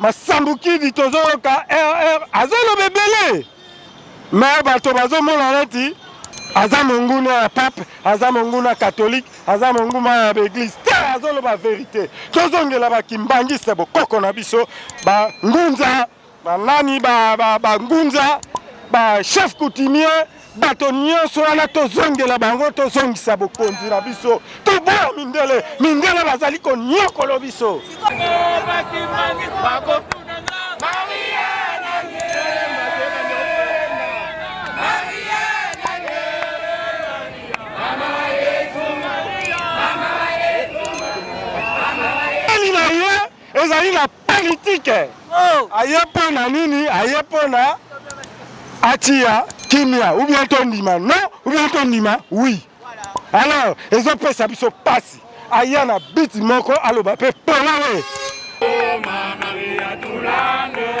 masambukidi tozoyoka rr azoloba ebele me bato bazomona neti aza monguna ya pape aza monguna katholike aza monguma ya baeglise te azoloba verite tozongela bakimbangiste bokoko na biso bangunza banani bangunza ba, ba, ba, ba chef coutumier bato nyonso wana tozongela bango tozongisa bokonzi na biso toboya mindele mindele bazali konyokolo biso Ezali na politike. Oh. Aye mpo na nini? Aye mpo na atiya kimia ou bien tondima non ou bien tondima oui. Alors ezopesa biso pasi. Aya na beat moko aloba mpe pona ye. Oh, Maria Tulande.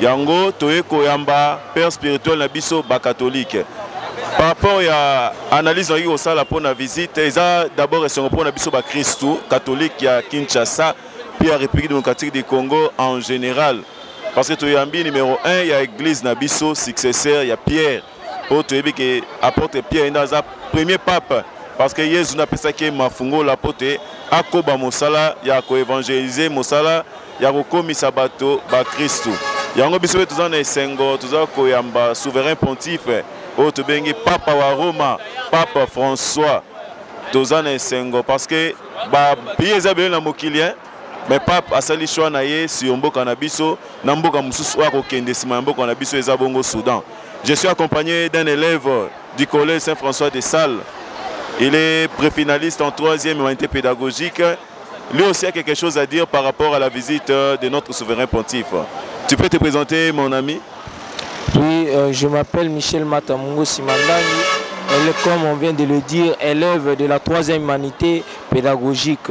Yango toye koyamba père spirituel na biso ba catholique. Par rapport ya analyse nayoki kosala mpo na visite eza d'abord esengo mpo na biso ba kristu catholique ya Kinshasa mpe ya Republique democratique du Congo en general parce que toyambi numero 1 ya eglise na biso successeur ya Pierre Oyo toyebi ke apôtre Pierre nda aza premier pape parce que Yesu nda apesaki ye mafungola mpo te akoba mosala ya ko evangeliser mosala ya kokomisa bato ba Kristu. Yango biso mpe toza na esengo toza koyamba souverain pontife oyo tobengi papa wa Roma pape François. Toza na esengo parce que ba billets eza ebele na mokili hein. Mais pape asali choix na ye sur mboka na biso na mboka mosusu oyo akokende sima ya mboka na biso eza bongo Soudan. Je suis accompagne d'un elève du collège Saint François de Sales. Il est prefinaliste en troisième humanité pédagogique. Lui aussi a quelque chose à dire par rapport à la visite euh, de notre souverain pontife. Tu peux te présenter mon ami? Oui, euh, je m'appelle Michel Matamungo Simandani. Elle est, comme on vient de le dire, élève de la troisième humanité pédagogique.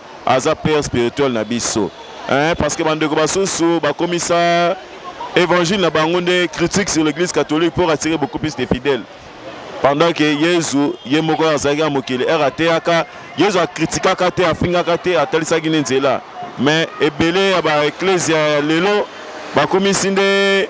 aza père spirituel na biso hein, parce que bandeko basusu bakomisa évangile na bango nde critique sur l'église catholique pour attirer beaucoup plus de fidèles pendant que yezu ye moko azalaki na mokili ere ateyaka yezu akritikaka te afingaka te atalisaki nde nzela mais ebele ya baeklezia ya lelo bakomisi nde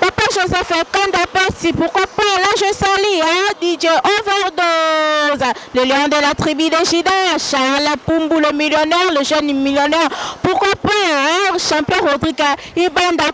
Papa Joseph Kanda Pasi, pourquoi pas là je salis hein, DJ Overdose, le lion de la tribu de Jida, Charles Pumbu le millionnaire, le jeune millionnaire, pourquoi pas hein, champion Rodrigue Ibanda,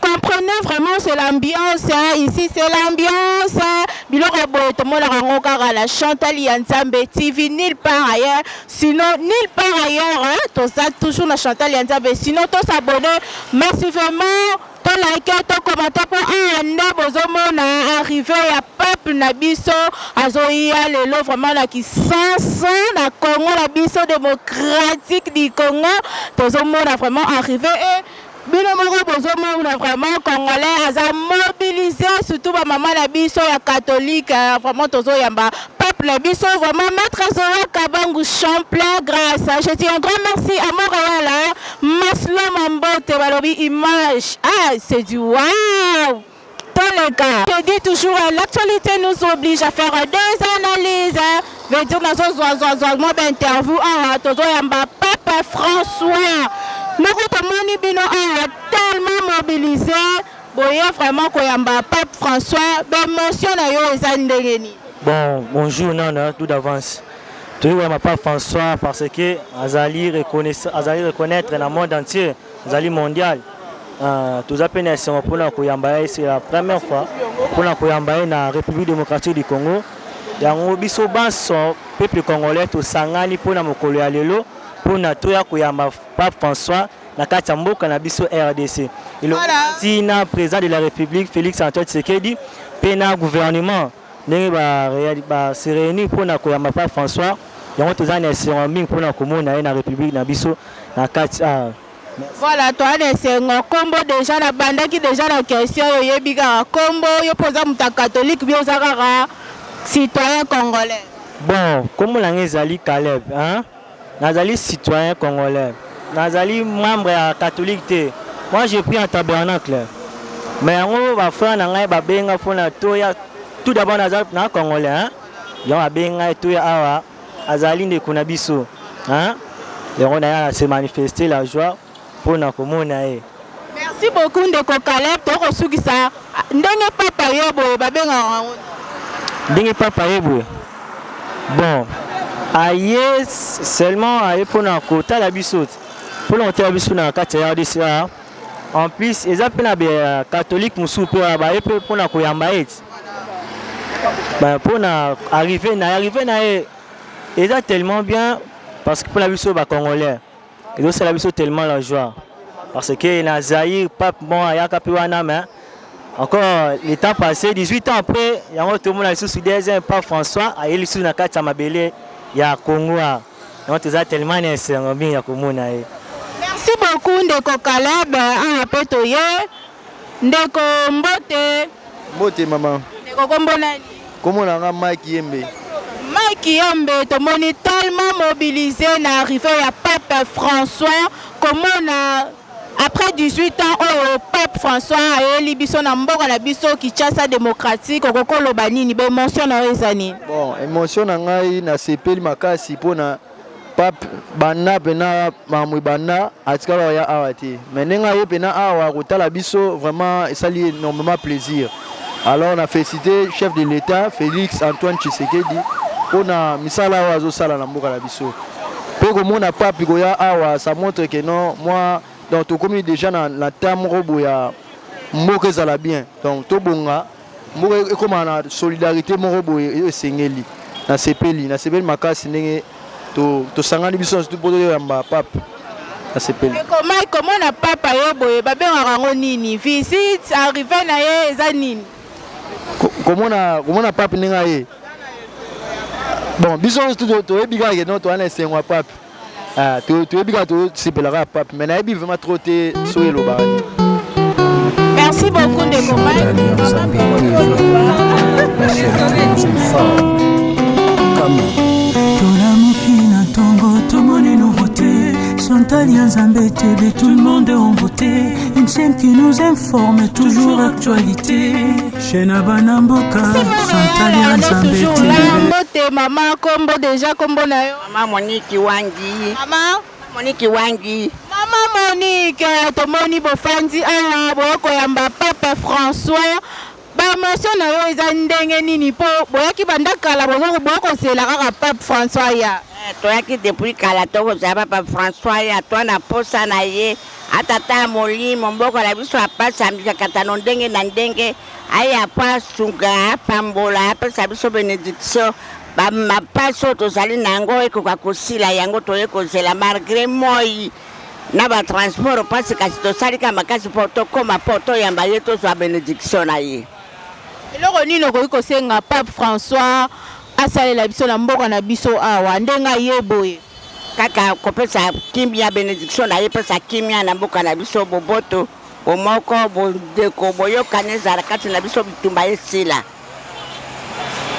comprenez vraiment c'est l'ambiance hein, ici c'est l'ambiance hein. biloko ya boye tomonaka yango kaka na chantal ya nzambe tv nil part ailleurs sinon nil part ailleurs hein, toza toujours na chantal ya nzambe sinon tosabonne merci vraiment To like to commenter po awa nde bozo mona arrivee ya peuple na biso azo ya lelo vraiment na kisansa na Congo na biso democratique du Congo tozo mona vraiment arrivee et bino moko bozo mona vraiment congolais aza mobilise surtout ba mama na biso ya catholique hein, vraiment tozo yamba peuple na biso vraiment maître Zoya Kabangu Champlain grâce je dis un grand merci à Montréal hein. Masloma Mbote balobi image ah c'est du wow toleka je dis toujours l'actualité nous oblige à faire des analyses veut dire nazozwa zwa zwa mwa bainterview awa tozoyamba papa françois moko tomoni bino awa tellement mobilise boye vraiment koyamba pape françois baémotion na yo eza ndenge nini bon bonjour nana tout d'avance Toyei koyamba Pape François parce que azali reconnaître na monde entier, azali mondial. Euh, toza mpe na esengo mpona koyamba ye c'est la première fois mpona koyamba ye na République démocratique du Congo. Yango biso banso peuple congolais tosangani mpona mokolo ya lelo mpona toya koyamba Pape François na kati ya mboka na biso RDC. Elongi na président de la République Félix Antoine Tshisekedi mpe na gouvernement ndenge ba reali ba se reunir mpo na koyamba Pape François, yango toza na esengo mingi mpo na komona ye na Republique na biso na kati awa. Voilà toza na esengo kombo dejà na bandaki dejà na question oyo oyebi kaka kombo yo mpe oza moto ya catholique bien oza kaka citoyen congolais. Bon kombo na nga ezali Caleb hein. Nazali citoyen congolais. Nazali membre ya catholique te. Moi je prie en tabernacle. Mais yango ba frère na ngai ba benga pona toya tout d'abord naza na congolais hein. Yango abenga toya awa azali ndeko na biso hein. Yango na ya se manifester la joie pona komona ye. Merci beaucoup ndeko Caleb toko sukisa ndenge papa ye boye babengaka yango ndenge papa ye boye bon aye seulement aye mpona kotala biso te mpona kotala biso na kati ya rdc awa en plus eza mpe na catholique mosusu mpe wana baye mpe mpona koyamba ye ti mpona arrive na ye arrive na ye eza tellement bien parce que mpona biso bacongolais Ezo sala biso tellement la joie parce que na Zaïre pape bon ayaka pe wana mais encore le temps passé 18 ans après yango tomona lisusu deuxième pape François aye lisusu na kati ya mabele ya Congo yango toza tellement na esengo mingi ya komona ye. Merci beaucoup ndeko Caleb, awa pe toye. Ndeko mbote. Mbote maman. Ndeko kombo nani? Kombo na nga Mike Yembe. Mike Yembe tomoni tellement mobilisé na arrivée ya Pape François komona après 18 ans oyo Pape François ayeli biso na mboka na biso Kinshasa démocratique okokoloba nini ba émotion na yo eza nini? Bon, émotion na ngai nasepeli makasi mpo na Pape Banna pena Mamwi Banna atikala koya awa te mais ndenge aye pena awa kotala biso vraiment esali énormément plaisir alors na félicité chef de l'État Félix Antoine Tshisekedi mpo na misala oyo azosala na mboka na biso mpe komona pape koya awa ça montre que non moi donc tokomi déjà na, na temps moko boya mboka ezala bien donc tobonga mboka ekoma na solidarité moko boye oyo esengeli nasepeli nasepeli makasi ndenge tosangani biso na mpo toyamba pape nasepeli ekomai komona pape yo boye babengaka yango nini visite arrive na ye eza nini komona komona pape ndenge aye bon biso nyonso toyebi kaka ke no towana esengo ya pape Ah, to to bika to sepelaka pape mais nayebi vraiment trop te so elobaka te merci beaucoup ndeko tolamuki na ntongo tomoni nouveauté chantal ya nzambe tebe tout le monde en beauté une chaîne qui nous informe toujours actualité chez na bana mboka chantal ya nzambe tebe mama kombo deja kombo na yo Maman Monique Wangi. Maman Monique Wangi. Maman Monique, tomoni bofanzi awa boya koyamba Papa François. Ba emotion na yo eza ndenge nini po boyaki banda kala bozo boya kozela kaka Pape François ya. Eh, toyaki depuis kala tokozela Papa François ya to na posa na ye atata ya molimo mboka na biso apasi amikakatano ndenge na ndenge Aya mpo asunga, apambola, apesa biso benediction. Ba mapasi oyo tozali na yango ekoka kosila, yango toye kozela malgre moi na ba transport mpasi, kasi tosali kaka makasi mpo tokoma, mpo toyamba ye, tozwa benediction na ye. Eloko nini okoki kosenga Pape François asalela biso na mboka na biso awa ndenge aye boye? Kaka kopesa kimia, benediction na ye epesa kimia na mboka na biso, boboto. Bomoko, bondeko, boyokani ezala kati na biso, bitumba esila.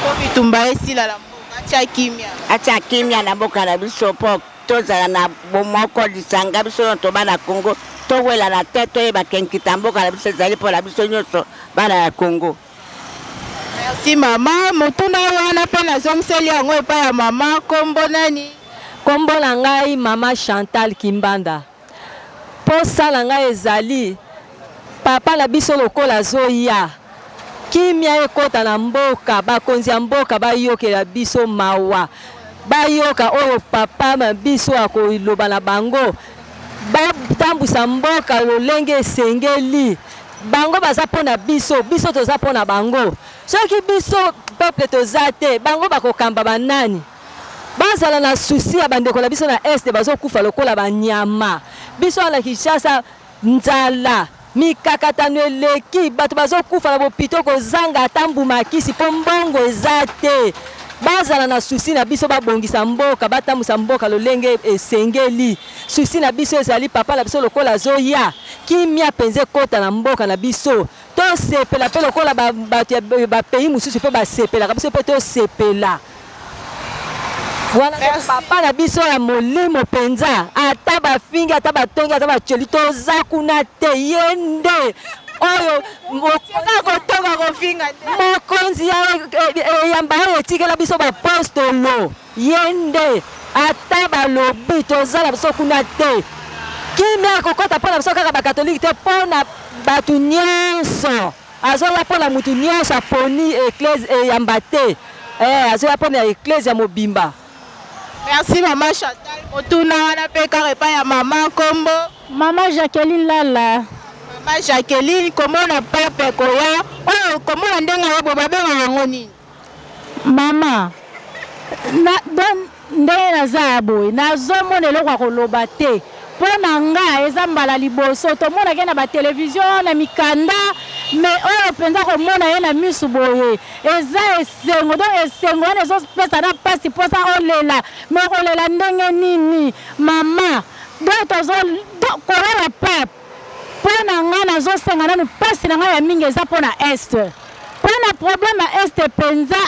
Mpo bitumba esila na mboka, atya kimya. Atya kimya na mboka na biso mpo tozala na bomoko lisanga biso nyonso bana ya Congo towelana te toyeba ke nkita mboka na biso ezali mpo na biso nyonso bana ya Congo. Merci mama, motuna wana mpe nazongiseli yango epai ya mama, kombo nani? Kombo na ngai mama Chantal Kimbanda. Posa na ngai ezali papa na biso lokola azoya kimia ekota na mboka bakonzi ya mboka bayokela biso mawa bayoka oyo papa na biso akoloba na bango batambwisa mboka lolenge esengeli bango baza mpo na biso biso toza mpo na bango soki biso peuple toza te bango bakokamba banani? Bazala na souci ya bandeko na biso na Est bazokufa lokola ba nyama. Biso awa na Kinshasa nzala, mikakatano eleki, bato bazokufa na bopito kozanga ata mbuma kisi mpo mbongo eza te. Bazala na souci na biso babongisa mboka, batambusa mboka lolenge esengeli. Souci na biso ezali papa na biso lokola azoya, kimia penza ekota na mboka na biso. Tosepela mpe lokola bato ya bapays mosusu mpe basepelaka, biso mpe tosepela wana papa na biso ya molimo mpenza, ata bafingi, ata batongi, ata baceli, toza kuna te, ye nde oyo mokonzi ya eyamba oyo etikela biso bapostolo Ye nde ata balobi toza na biso kuna te kimia ekokota mpo na biso kaka bakatolike te mpo na bato nyonso azoya mpo na moto nyonso aponi eklese eyamba te eh, azoya mpo na eklese ya mobimba merci mama chantal motuna wana mpe kaka epai ya mama nkombo mama jacqueline lala mama jacqueline komona pape koya oyo oh, komona ndenge oyo babengaka yango nini Maman na donc ndenge naza ya boye nazomona eloko ya koloba te mpo na nga eza mbala liboso tomonaka ye na ba television na mikanda me oyo mpenza komona ye na misu boye eza esengo donc esengo wana ezopesa na mpasi mposa olela me okolela ndenge nini mama donc tozo kolala pape Pona nga nazo senga nanu pasi na nga ya mingi eza pona est pona problème ya est penza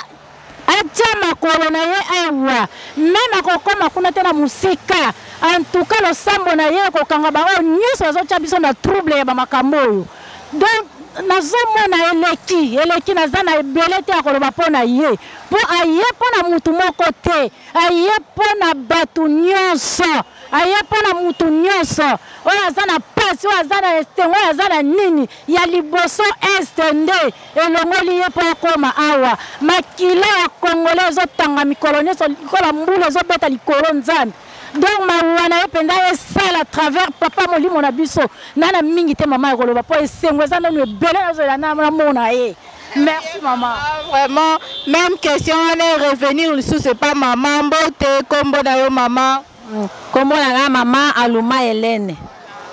atia makolo na ye awa meme akokoma kuna te na mosika antuka losambo na ye ekokanga baoyo nyonso bazotia biso na trouble ya bamakambo oyo donc nazomona eleki eleki naza na ebele te ya koloba mpo na ye mpo aye mpo na motu moko te aye mpo na bato nyonso Aye mpo na moto nyonso oyo aza na mpasi, oyo aza na esengo, oyo aza na nini ya liboso. Est nde elongoli ye mpo akoma awa. Makila ya Congolais ezotanga mikolo nyonso lokola mbula ezobeta likolo. Nzambe donc mawa na ye mpenza esala travers papa molimo na biso nana mingi te mama ya koloba mpo esengo eza nanu ebele nazwela namona ye Merci maman. Ah, vraiment, même question on est revenir sous c'est pas maman mbote kombo na yo maman. Mm. Kombo na nga maman Aluma Helène.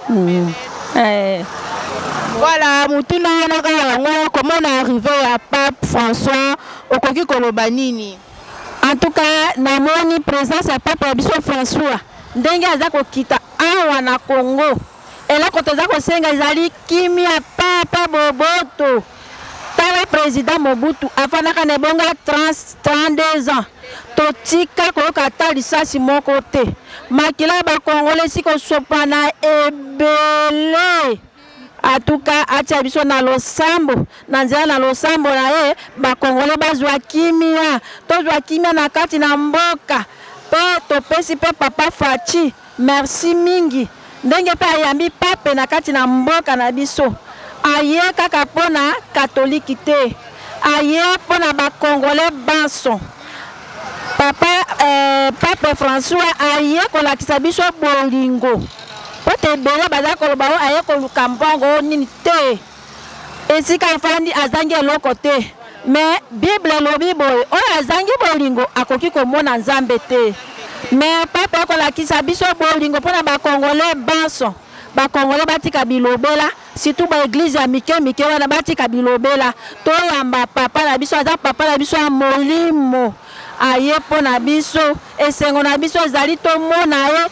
Mm. Eh. Voilà, mutuna wana kaka yango comment on est arrivé à Pape François okoki koloba nini? En tout cas, namoni présence ya Pape ya biso François ndenge aza kokita awa na Congo. Eloko toza kosenga ezali kimia papa boboto. Tala president Mobutu afandaka na ebonga 32 ans. Totika koyoka ata lisasi moko te. Makila ya bakongole si kosopana ebele. Atuka atia biso na losambo na nzela na losambo na ye bakongole bazwa kimia tozwa kimia na kati na mboka mpe topesi mpe papa Fatshi Merci mingi ndenge pe ayambi pape na kati na mboka na biso aye kaka po na catholique te aye po na ba congolais banso papa eh, pape François aye kolakisa biso bolingo po te ebele baza koloba o aye koluka mbongo o nini te esika afandi azangi eloko te mais bible elobi boye oyo azangi bolingo akoki komona nzambe te mais papa akolakisa biso bolingo mpo na bakongole banso bakongole batika bilobela surtout ba eglise ya mike mike wana batika bilobela toyamba papa na biso aza papa na biso ya molimo aye mpo na biso Esengo na biso ezali tomona ye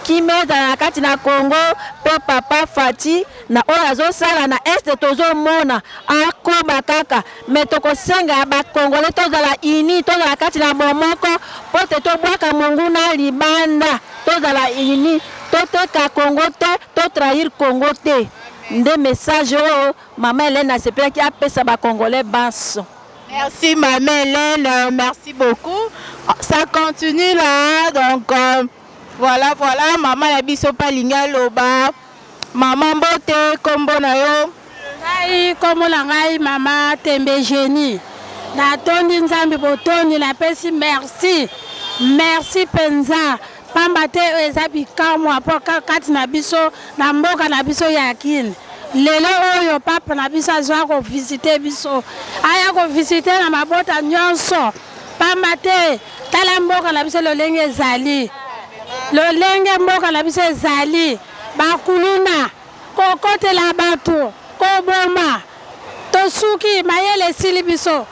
kimia ezala na kati na Congo mpo papa Fatshi na oyo azosala na este tozomona akoba kaka me tokosenga ya bakongole tozala uni tozala kati na bomoko mpo te tobwaka monguna libanda tozala uni toteka Congo te totrahir Congo te nde message oyo mama Helène asepelaki apesa bakongole banso Merci ma Hélène, merci beaucoup. Ça continue là, donc euh, voilà, voilà, maman ya biso palinga loba. Maman Mbote, kombo na yo. ngai nkombo na ngai mama tembe genie natondi nzambe botondi napesi merci merci mpenza pamba te oyo eza bikamwa mpo kati na biso na mboka na biso ya Kin. Lelo oyo pape na biso azwa kovisite biso, aya kovisite na mabota nyonso, pamba te tala mboka na biso lolenge ezali, lolenge mboka na biso ezali, bakuluna kokotela bato, koboma, tosuki, mayele esili biso,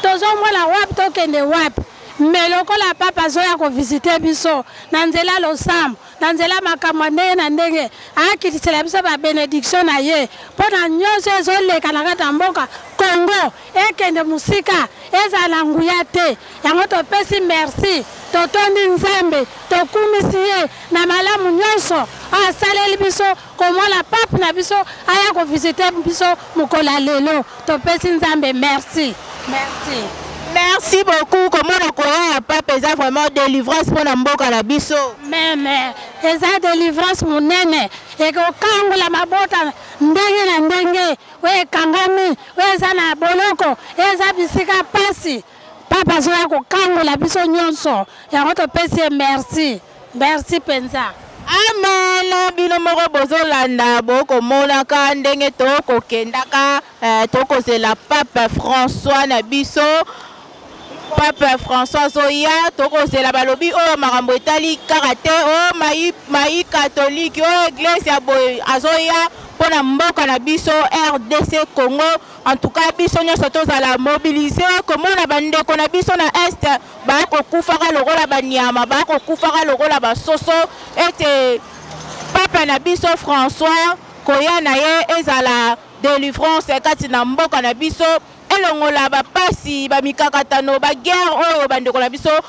tozomona wapi tokende wapi. Mais lokola papa azoya ko visiter biso na nzela losambo, na nzela makambo ya ndenge na ndenge, akitisela biso ba benediction na ye mpo na nyonso ezoleka na kati ya mboka Congo ekende mosika, ezala na nguya te. Yango topesi merci, totondi Nzambe, tokumisi ye na malamu nyonso oyo asaleli biso. komona pape na biso aya ko visiter biso mokolo ya lelo topesi nzambe merci merci merci beaucoup komona koya ya pape eza vraiment délivrance mpo na mboka na biso meme eza délivrance monene ekokangola mabota ndenge na ndenge oyo ekangami oyo eza na boloko eza bisika mpasi papa azoya kokangola biso nyonso yango topesi ye merci Merci penza. Amen bino moko bozolanda bokomonaka ndenge tokokendaka eh, tokozela pape François na biso pape François azoya tokozela balobi oyo oh, makambo etali kaka te o oh, mai, mai katolike oyo oh, eglise ya boye azoya mpo na mboka na biso rdc congo En tout cas biso nyonso tozala mobilise komona bandeko na biso na est bakokufaka lokola banyama bakokufaka lokola basoso ete papa na biso françois koya na ye ezala delivrance kati na mboka na biso elongola bapasi bamikakatano baguerre oyo bandeko na biso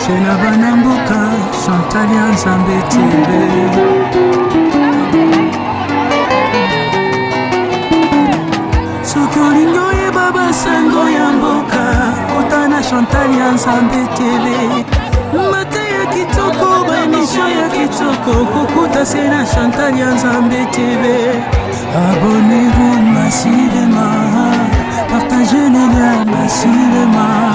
Chez na bana mboka Chantal ya Nzambe soki olingi oyeba basango ya mboka kota na Chantal ya Nzambe tele mate ya kitoko baemisio ya kitoko kokuta se na Chantal ya Nzambe tele abonnez-vous massivement partagez le lien massivement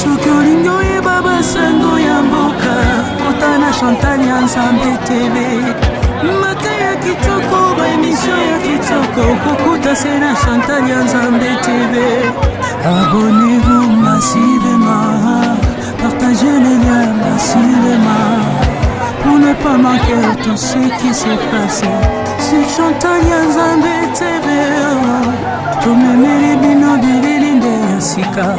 soki olingi oyeba basango ya mboka kota na chantal ya nzambe tv mata ya kitoko baemisio ya kitoko kokuta se na chantal ya nzambe tv abonnez-vous massivema partage le lien massivema pour ne pas manquer tout ce qui se passe sur chantal ya nzambe tv tomemeli bino bilili nde ya sika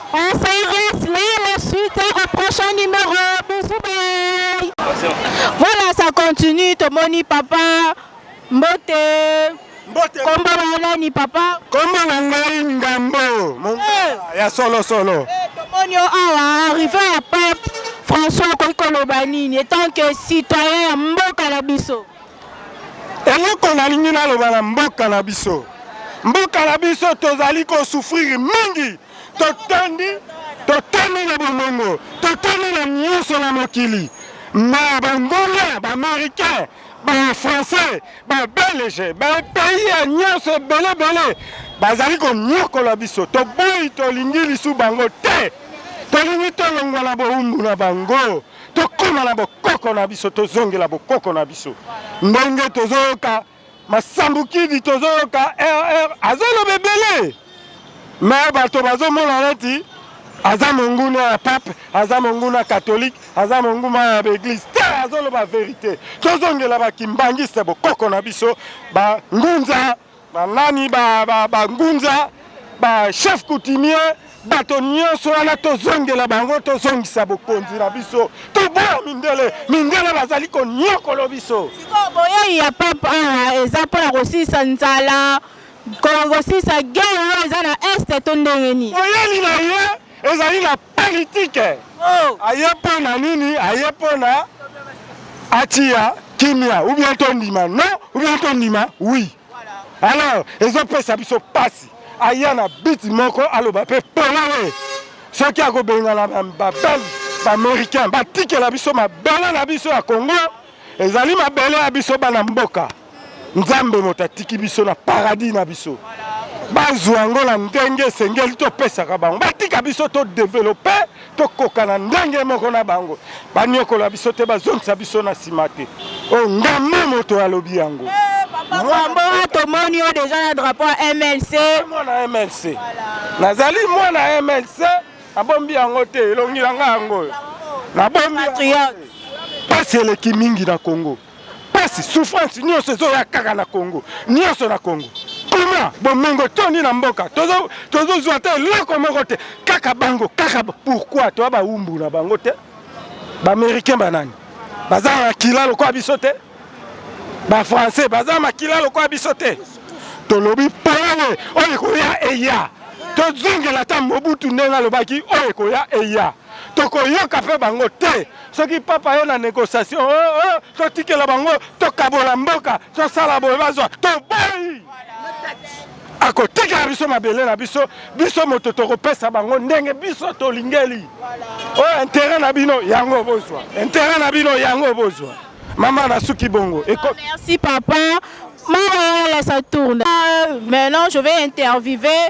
Voilà, ça continue. Tomoni, papa, mbote. Kombo na nani papa? Kombo na ngai Ngambo. Eh. Ya solo solo. Eh, tomoni yo awa arrivé ya pape François akoki koloba nini etant que citoyen ya mboka na biso? Eloko nalingi naloba na mboka na biso, mboka na biso tozali kosufrire mingi Totondi, totondi na bomengo, totondi na nyonso na mokili. Ma banguna, ba américains, ba français, ba belge, ba pays ya nyonso ebele ebele bazali konyokola biso. Toboyi, tolingi lisu bango te. Tolingi tolongwa na bowumbu na bango, tokoma na bokoko na biso, tozongela bokoko na biso ndenge tozoyoka masambukidi tozoyoka rr azoloba ebele me bato bazomona neti aza monguna ya pape aza monguna katholike aza monguma ya baeglise te azoloba verite tozongela bakimbangiste bokoko na biso bangunza banani bangunza ba, ba, ba, ba chef coutumier bato nyonso wana tozongela bango tozongisa bokonzi na biso toboya mindele mindele bazali konyokolo biso sikoyo boyei ya pape awa ah, eza mpo na kosilisa nzala kosilisa gere oyo eza na este to ndenge nini boyeli na ye ezali na politike oh. aye mpo na nini aye mpo na atiya kimia ubien tondima non ubien tondima wi oui. Alors, ezopesa biso pasi aya na biti moko aloba mpe polele soki akobengana babelge baaméricain batikela biso mabele na biso ya congo ezali mabele ya biso bana mboka nzambe moto atiki biso na paradis na biso bazwa yango na ndenge esengeli topesaka bango batika biso todevelope tokokana ndenge moko na bango baniokola biso te bazongisa biso na nsima te oyo oh, ngame moto alobi yango mwambo eh, tomoni yo deja na drapo ya mlc mwana mlc nazali mwana mlc nabombi yango te elongi na ngai yango oyo nabombi mpasi eleki mingi na congo pasi souffrance nyonso ezoya kaka na congo nyonso na congo kuna bomengo tondi na mboka tozozwa te eloko moko te kaka bango kaka pourkui toya baumbu na bango te baaméricain banani baza na makila lokola biso te bafrançais baza na makila lokola biso te tolobi polele oyo ekoya eya tozongela ata mobutu ndenge alobaki oyo ekoya eya tokoyoka mpe bango te soki papa yo na négociation oh, oh, oh, totikela bango tokabola mboka tosala boye bazwa tobai akotikela biso mabele na biso biso moto tokopesa bango ndenge biso tolingeli oyo intere na bino yango bozwa intere na bino yango bozwa mama nasuki bongo Eko... Ah, merci papa mama la saturne ah, maintenant je vais interviewer